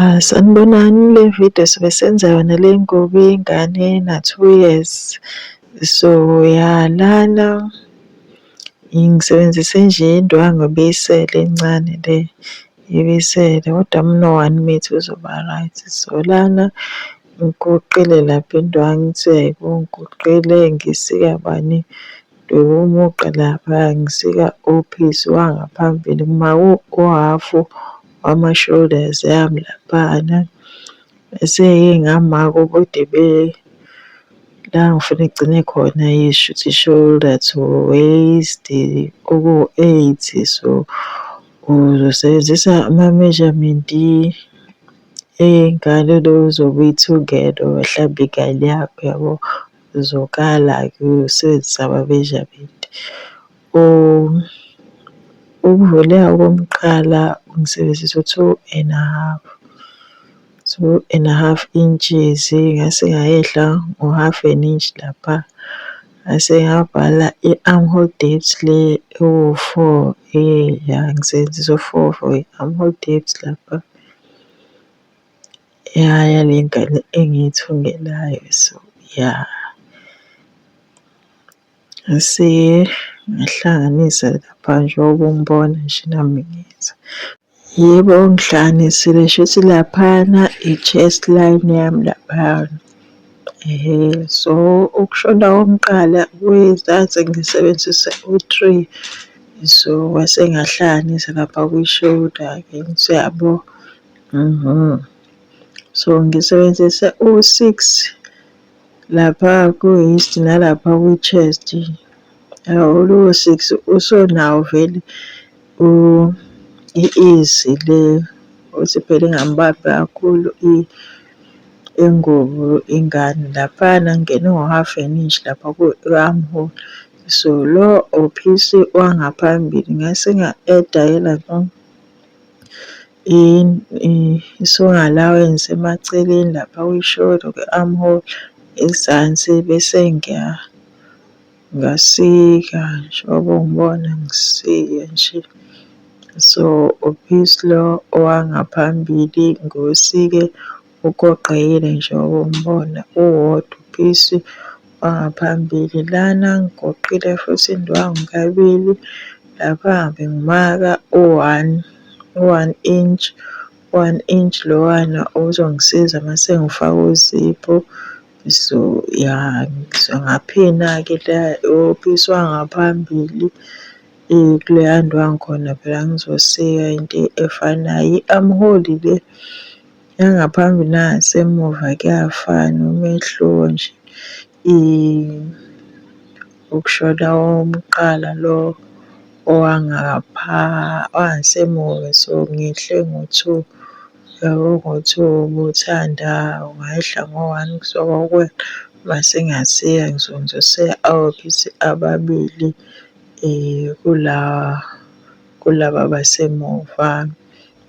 Ahh sanibonani le video sobe senza yona le ngoba ingane ena two years so ya lana ngisebenzise nje indwangu ebiyisele encane le ibisele kodwa muno one metre uzoba right. So lana ngiguqile lapha indwangu ithi uyayibona ngisika bani ngidwebe umugqa lapha ngisika ophisi wangaphambili uma u-half wama-shoulders yami laphana. Bese-ke ngama kokude be la ngifuna igcine khona shuthi shoulder to waist okuwu-eight so uzosebenzisa ama-measurement ey'ngane lo uzobe uyithungela wahlamba ingane yakho yabo. Uzokala-ke usebenzise ama-measurement Ukuvula okokuqala ngisebenzisa u-two and a half, two and a half inches ngase ngayehla ngo-half an inch lapha, ngase ngabhala i-arm hole depth le ewu-four ya ngisebenzisa u-four for i-arm hole depth lapha ya yale ngane engiyithungelayo so ya. Siye ngihlanganise lapha njengoba ungibona nje nami ngenza. Yebo ngihlanganisile shuthi laphana i-chest line yami laphana. So ukushona kokuqala ngase ngisebenzise u-three. So ngase ngahlanganisa lapha kwi-shoulder-ke ngithi uyabo. So ngisebenzise u-six. Lapha ku-waist nalapha kwi-chest awuluwo-six usunawo vele i-ease le ukuthi phela ingambambi kakhulu ingubo ingane. Laphana ngingene ngo-half an inch lapha ku-arm hole. So lo ophisi wangaphambili ngase nga-eda yena lo. isuka ngalawa engisemaceleni lapha kwi-shoulder kwi-arm hole ezansi bese ngiya ngasika njengoba ungibona ngisike nje. So u-piece lo owangaphambili ngiwusike Ugoqekile nje umbona uwodwa uphisi wangaphambili lana ngigoqile futhi indwangu kabili lapha bengimaka u-one u-one inch one inch lowana uzongisiza uma sengifaka uziphu so ya ngaphina-ke la uphisi wangaphambili kuleya ndwangu khona phela ngizosika into efanayo i-armhole le Yangaphambili nangasemuva kuyafana umehluko nje ukushona owokuqala lo owangasemuva so ngehle ngo-two yabo ngo-two ubuthanda ungehla ngo-one kuzoba ukwehla uma sengiyashiya ngizokwenza useya awophuzi ababili kula kulaba abasemuva.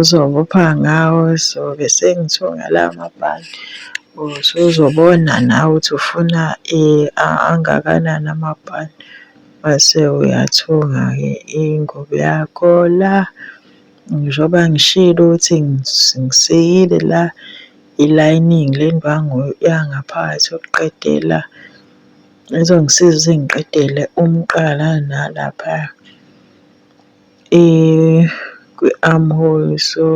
Uzobopha ngawo sobe sengithunga lawa mabhande usuzobona nawe ukuthi ufuna angakanani amabhande mase uyathunga-ke ingubo yakho la. Njengoba ngishilo ukuthi ngisikile la i-lining le ndwangu yangaphakathi yokuqedela ezongisiza ukuthi ngiqedele umqala nalaphaya. kwi-arm hole so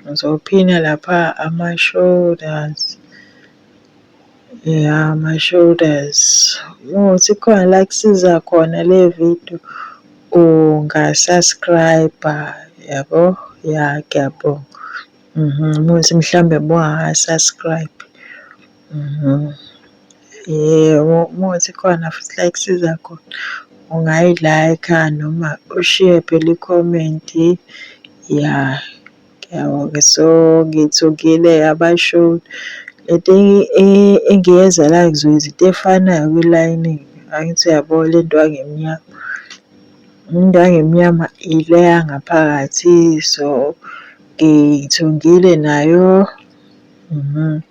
ngizophina lapha ama-shoulders ya ama-shoulders ukuthi khona la kusiza khona le video unga-subscribe-a yabo ya ngiyabonga. Uma ukuthi mhlawumbe buha-subscribe. Mhm. Yebo, uma ukuthi khona futhi la ekusiza khona, ungayi-like-a noma ushiye phela ikhomenti. Ya, ngiyabonga. So, ngithukile abasholi. Le nto engiyenzelayo ngizokwenza into efanayo kwilayini. Angithi uyabo le nto yangemnyama? Into yangemnyama ile yangaphakathi, so ngithungile nayo. Mhm.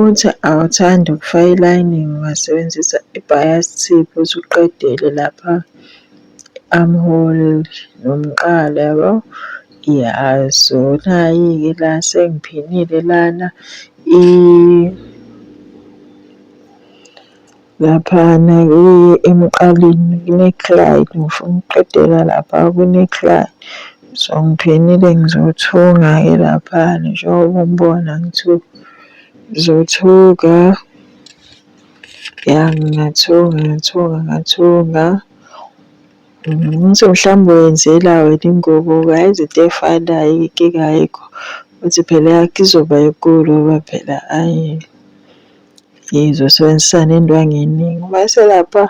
Uthi awuthandi ukufaka i-lining ungasebenzisa i-bias tip uthi uqedele lapha i-armhole nomqala yabo. Ya so nayi-ke la sengiphinile lana . Laphana kuye emqaleni kune-cry ngifuna ukuqedela lapha kune-cry. So ngiphenile ngizothuka-ke laphana njengoba ungibona ngithuka. Ngizothuka, ya ngingathuka, ngathuka, ngathuka. Ngithi mhlawumbe wenzela wena ingubo yazi into efanayo inkinga ayikho. Uthi phela eyakho izoba enkulu ngoba phela ayi Yize usebenzisa le ndwangu eningi, uma eselapha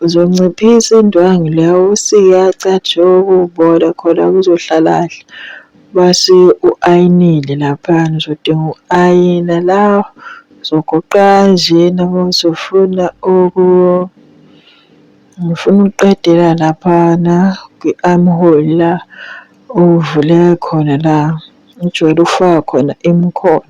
uzonciphisa indwangu le awusike yacatshulwa ukubola khona kuzohlala kahle. Mase u-ayinile laphana uzodinga uku-ayina la uzogoqa kanjena uma usufuna ngifuna ukuqedela laphana kwi-arm hole la okuvuleka khona la ujwayele ukufaka khona imikhono.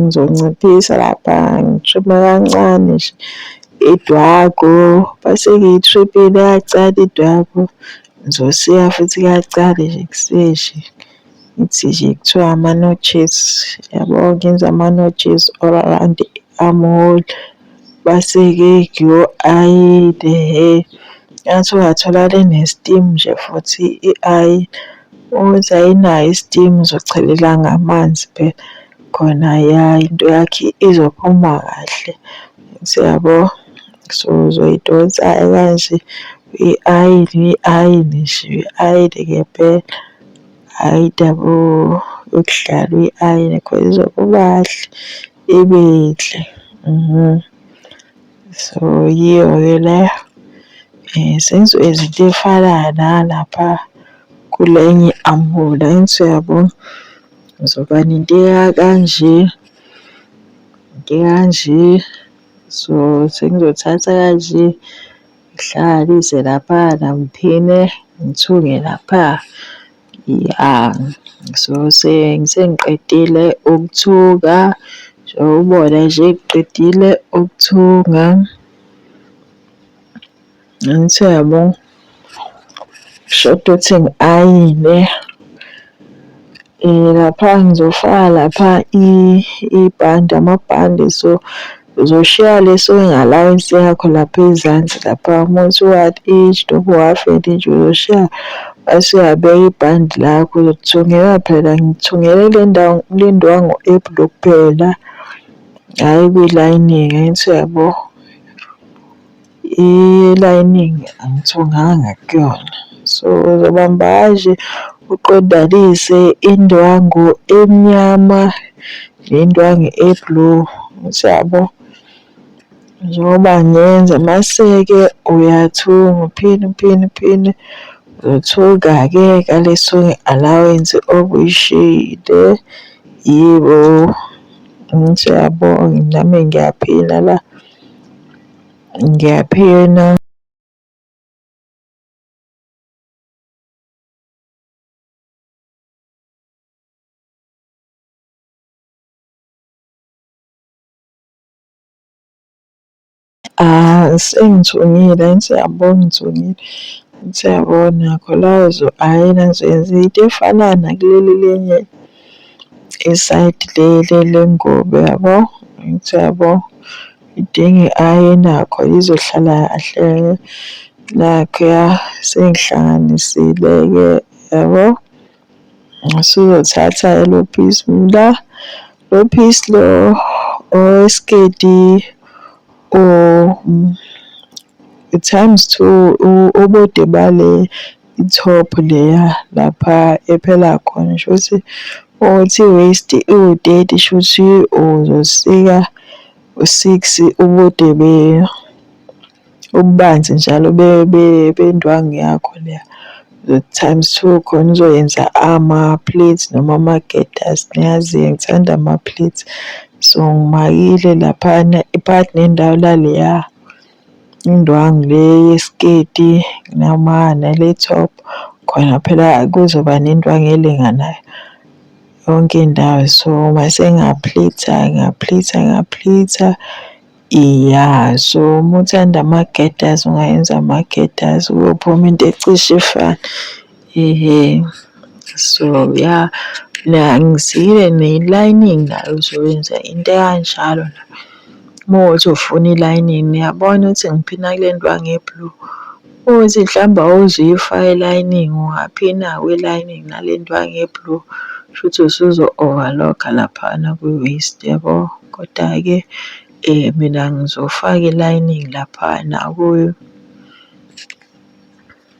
Ngizonciphisa lapha ngi-trim-e kancane nje idwako bese ngiyi-trim-ile kancane idwako. Ngizosika futhi kancane nje kuseshi ngithi nje kuthiwa ama-notches yabo ngenze ama-notches all around i-arm hole. Baseke yho ayi le hee ngathi ungatholakala ene-steam nje futhi ayi ukuthi ayinayo i-steam uzochelela ngamanzi phela khona ya into yakhe izophuma kahle siyabo. So uzoyidonsa-ke kanje uyi-ayine uyi-ayine nje uyi-ayine ngempela hhayi indaba yokudlala uyi-ayine cause izophuma kahle. ibinhle mhm. so yiyo-ke leyo um eh, senziwe izinto ey'fana nalapha kule enye i-ambulance uyabo ngizoba nento ekanje into ekanje so sengizothatha kanje ngihlanganise lapha namphine ngithunge lapha. Ya, so sengiqedile ukuthunga ubona nje ngiqedile ukuthunga. Angithi uyabo kushoda ukuthi ngi-ayine lapha ngizofaka lapha ibhande amabhande so. Uzoshiya lesi wengalayensi yakho lapha ezansi lapha uma usuwathi each dobo wafenda nje uzoshiya base uyabeka ibhandi lakho uzothungela phela ngithungele le ndawo kulindiwa ngo-april kuphela hhayi kwilayini-ke angithi uyabo Elayiningi angithunganga kuyona. So uzobamba kanje uqondanise indwangu emnyama nendwangu e-blue, ukuthi yabo. Njengoba ngenza maseke uyathunga uphinde uphinde uphinde uthunga-ke ngale song allowance obuyishiyile. Yebo, ngithi uyabonga nami ngiyaphila la. Ngiyaphila. Ah, sengithungile, siyabonga ngithungile. Siyabona Kholazo, hhayi nazo yenza into efana nakuleli lenye isayidi leli lengubo yabo, siyabo. Ngidinge aye nakho ngizohlala kahle laphaya sengihlanganisile-ke yabo. Usuzothatha lo piece umla, lo piece lo owesiketi times two ubude bale. I-top leya lapha ephela khona shuthi uthi waist iwu-thirty shuthi uzosika u-six ubude ububanzi njalo bendwangu yakho leya. Times two khona uzoyenza ama-pleats noma ama-gaiters niyazi-ke ngithanda ama-pleats. So ngimakile laphana part nendawo laleya. Indwangu le yesiketi noma nale top khona phela kuzoba nendwangu elinganayo yonke indawo. So mase ngaphlitha ngaphlitha ngaphlitha iya. So uma uthanda ama-gaiters ungayenza ama-gaiters kuyophuma into ecishe ifane. Ehe, so ya la ngisile ne-lining nayo uzoyenza into ekanjalo la. Uma uthi ufuna i-lining niyabona ukuthi ngiphina kule ndwangu e-blue. Uma uthi mhlawumbe awuze uyifake i-lining ungaphina kwi-lining nale ndwangu e-blue shuthi usuzo-overlock-a laphana kwi-waist yabo. Koda-ke mina ngizofaka i-lining laphana kuyo.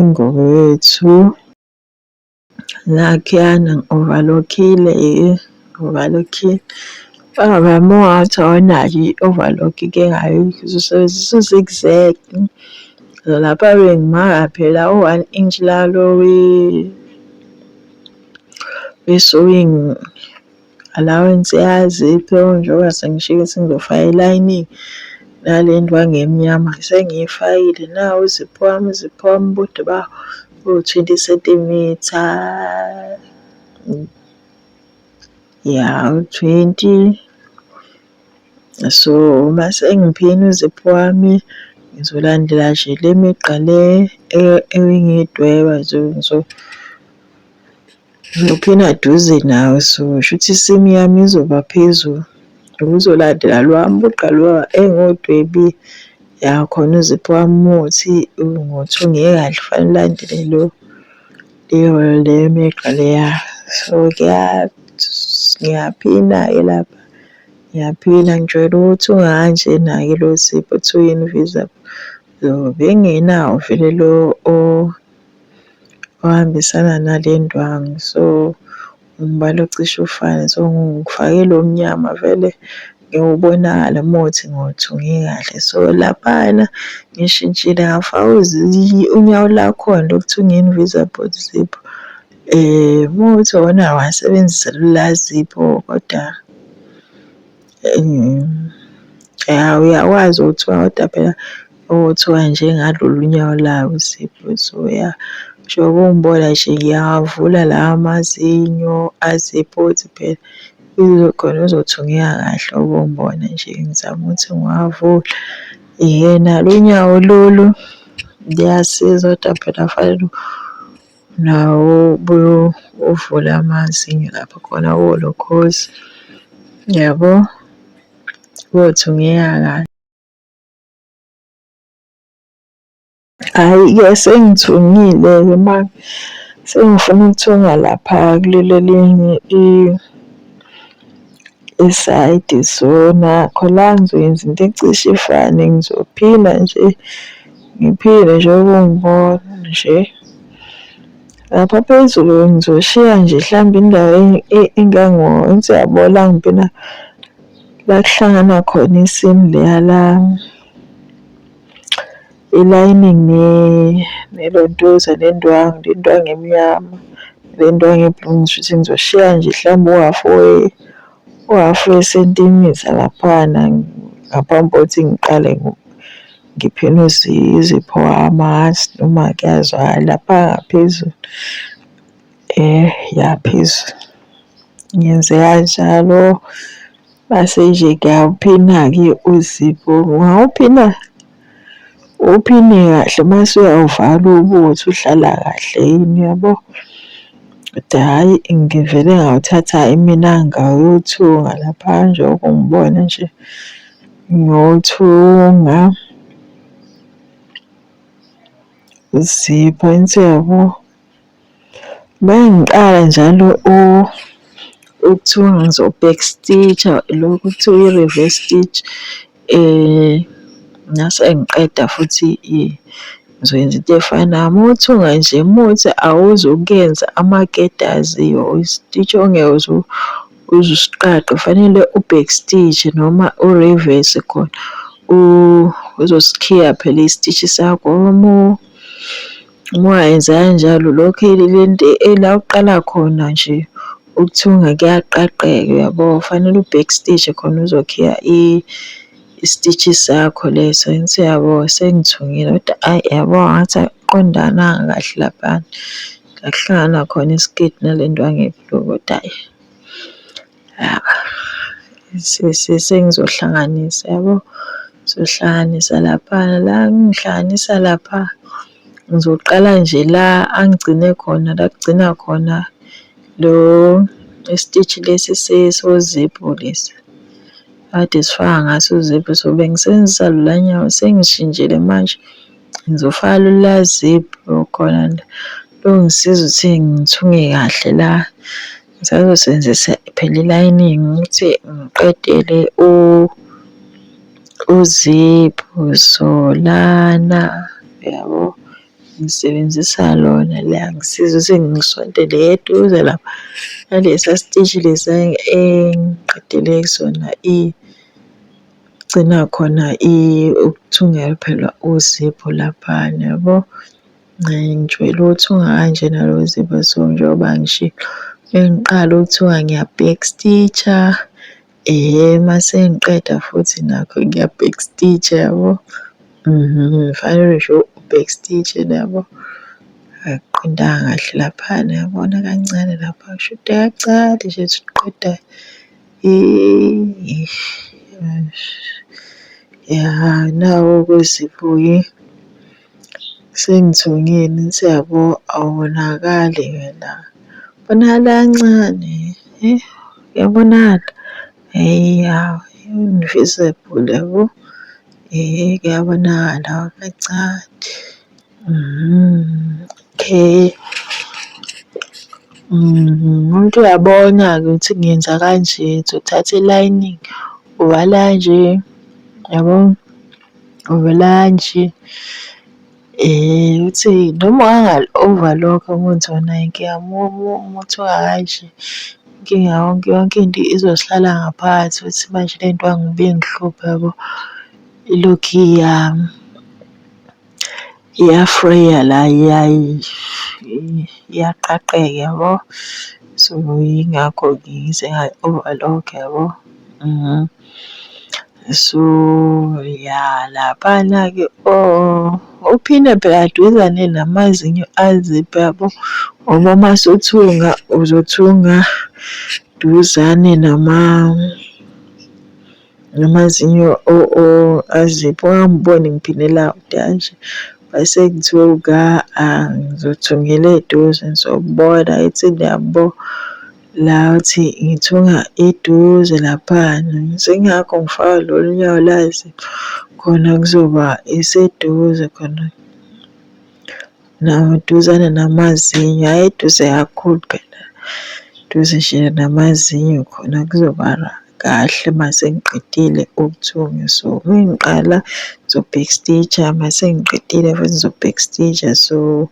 Ingubo yethu nakhuyana ngi-overlock-ile ngi-overlock-ile. Ubaba wami ungathi awunayo i-overlock ke ngayo uzosebenzisa u-zigzag. Lapha bengimaka phela u-one inch lalo we-sewing. Allowance yazi iphewa njengoba sengishike sengizofayela iningi nale ndwangu emnyama sengiyifakile nawu uzipho wami uzipho wami ubude bawo uwu-twenty sentimitha ya u-twenty so uma sengiphina uzipho wami ngizolandela nje le migqa le engiyidweba so. Ngiyophina duze nawe so shuthi isimu yami izoba phezulu uzolandela lwa mugqa lwa engodwebi ya khona uzipho wami muthi ngothi ungeke kahle fanele ulandele lo leyo le migqa leya so ngiyaphina-ke lapha ngiyaphina ngijwayele ukuthi unganjena-ke lo zipho kuthiwa yini visa so bengenawo vele lo ohambisana nale ndwangu so umbala ocishe ufane so ngifake lo mnyama vele ngiwubonakala uma uthi ngiwuthunge kahle so laphana ngishintshile ngafaka unyawo lakhona lokuthunga invisible zip um uma uthi wona wasebenzisa lula zipho kodwa Ya uyakwazi ukuthi kodwa phela okuthiwa njengalolu nyawo layo uSipho so ya njengoba ungibona nje ngiyawavula lawa amazinyo asephonsi phela khona uzothungeka kahle ubongibona nje ngizama ukuthi ngiwavule. Yena lo nyawo lolu luyasiza kodwa phela fanele . Nawo ubuye uvule amazinyo lapho khona kuwo lo khozi. Yabo? Kothi ungiyeka kahle. Hhayi-ke sengithungile-ke manje. Sengifuna ukuthunga lapha kuleli elinye isayidi so nakho la ngizoyenza into ecishe ifane ngizophila nje ngiphile nje ukungibona nje lapha phezulu ngizoshiya nje mhlawumbe indawo engango-once yabo la ngibina la kuhlangana khona isimu leya lami I-lining nelontuza nendwangu, le ndwangu emnyama le ndwangu e-blue ngishuthi ngizoshiya nje mhlawumbe uhafu uhafu wesentimitha laphana ngaphambi kokuthi ngiqale ngiphinde izipho amahathi noma kuyazwakala lapha ngaphezulu ya phezulu. Ngenze kanjalo mase nje ngiyaphina-ke uzipho, ungawuphina? Uphile kahle mase uyawuvala ubuthi uhlala kahle yini yabo. Kodwa hhayi ngivele ngawuthatha imina ngayothunga lapha njengoba ungibona nje ngiyothunga zipha insiyabo. Uma ngiqala njalo okuthiwa ngizo-back stitch-a lokhu okuthiwa i-reverse stitch ngase ngiqeda futhi ngizoyenza into efanayo. Uma uthunga nje uma uthi awuzukuyenza amaketasi or i-stitch ongeke uze usiqaqe kufanele u-back stitch noma u-reverse khona uzosikhiya phela i-stitch sakho . Uma enza kanjalo lokho ilento ela uqala khona nje ukuthunga kuyaqaqeka uyabo, kufanele u-back stitch-e khona uzokhiya i-stitch-i sakho leso angithi uyabo. Sengithungile kodwa ayi yabo ngathi akuqondananga kahle laphana, ngakuhlangana khona isiketi nale ndwangu ebhlu kodwa ayi. sengizohlanganisa yabo ngizohlanganisa lapha la ngihlanganisa lapha ngizoqala nje la angigcine khona la kugcina khona lo isititch lesi sesoziphu lesi kade sifaka ngaso uziphu so bengisebenzisa lula nyawo sengishintshile manje ngizofaka lula ziphu khona la longisiza ukuthi ngithunge kahle la Ngisazosebenzisa phela i-lining ukuthi ngiqedele uziphu solana yabo, ngisebenzisa lona liyangisiza ukuthi ngisondele eduze lapha nalesiya siteshi lesiya engiqedele kusona igcina khona ukuthungela phela uziphu laphayana yabo. Ngangitshwe lutho ungakanjena lo zipho so njengoba ngishilo bengiqala ukuthiwa ngiya-back stitch-a um mase ngiqeda futhi nakho ngiya-back stitch-a yabo. Mhm, kufanele nje u-back stitch-e yabo. Akuqondanga kahle laphana yabona kancane lapha kushuthi kancane nje ukuthi uqeda ya nawo-ke uZipho-ke. Sengithungeni siyabo awubonakali wena ubonakala kancane uyabonakala hheya u-invisible yabo kuyabonakala kancane okay. Umuntu uyabona-ke ukuthi ngiyenza kanje ngizothatha i-lining uvala kanje yabo. olantshi. Uthi noma ungangal-overlock umuthi wona inkinga umuthi ongakanje, inkinga yonke yonke into izohlala ngaphakathi ukuthi manje le nto yangibe ingihluphe yabo ilokhu iyama. Iyafreya la iyaqaqeka yabo. So yingakho ngize ngayi-overlock yabo. So ya laphana-ke uphinde phela duzane namazinyo aziphi yabo ngoba uma usuthunga uzothunga duzane nama. ngamazinyo azipho angangiboni ngiphindela kude kanje bese kuthiwa uka ngizothungela eduze ngizobona ithi niyabo la uthi ngithunga eduze laphana sengiyakho ngifaka lolu nyawo lazi khona kuzoba iseduze khona duzane namazinyo, hhayi eduze kakhulu phela, duze nje namazinyo khona kuzoba kahle uma sengiqedile ukuthunga. So uma ngiqala ngizo-back stitch-a, uma sengiqedile futhi ngizo-back stitch-a. So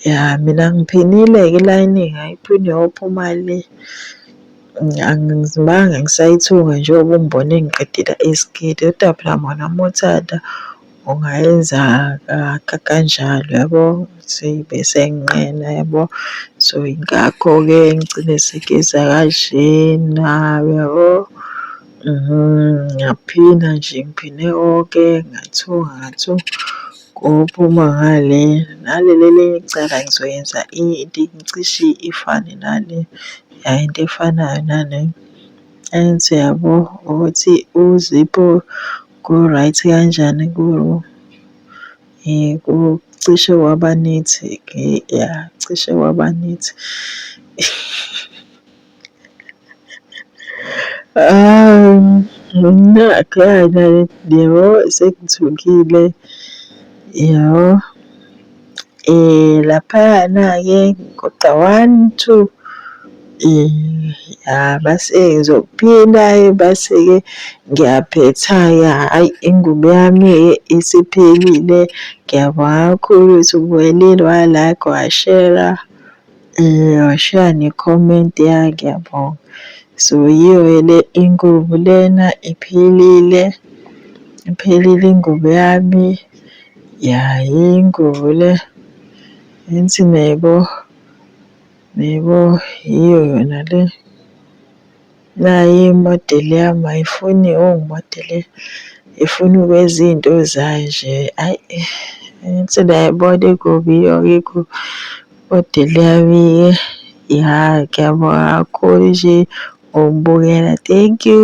ya mina ngiphinile-ke i-lining ayiphinde yophuma le, angizimanga ngisayithunga njengoba ungibone ngiqedile isiketi kodwa phela mona uma uthanda. ungayenza kanjalo yabo bese nginqena yabo. So yingakho-ke ngigcine sengiyeza kanjena uyabo. Ngaphinda nje ngiphinde oke ngathunga ngathunga kophuma ngale. Naleli elinye icala ngizoyenza into cishe ifane nale ya into efanayo nale. Enze yabo ukuthi uzipho. Ku-right kanjani ku kucishe kwaba nethi ya cishe kwaba nethi. Yabo sengithukile yabo. Laphayana-ke kodwa one, two, ya mase ngizokuphinda-ke bese-ke ngiyaphetha-ke hhayi ingubo yami-ke isiphelile. Ngiyabonga kakhulu ukuthi ubuyelile wala-ke washera. Washiya ne-comment yakhe yabo. So yiyo-ke le ingubo lena iphelile. Iphelile ingubo yami. Ya yingubo le. Angithi niyayibona? Niyayibona? Yiyo yona le. Nayi imodeli yami ayifuni oh ngimodele ifuna ukwenza izinto zayo nje ayi ngithi niyayibona ikubi yonke ikubi imodeli yami ya ngiyabonga kakhulu nje ngokubukela thank you.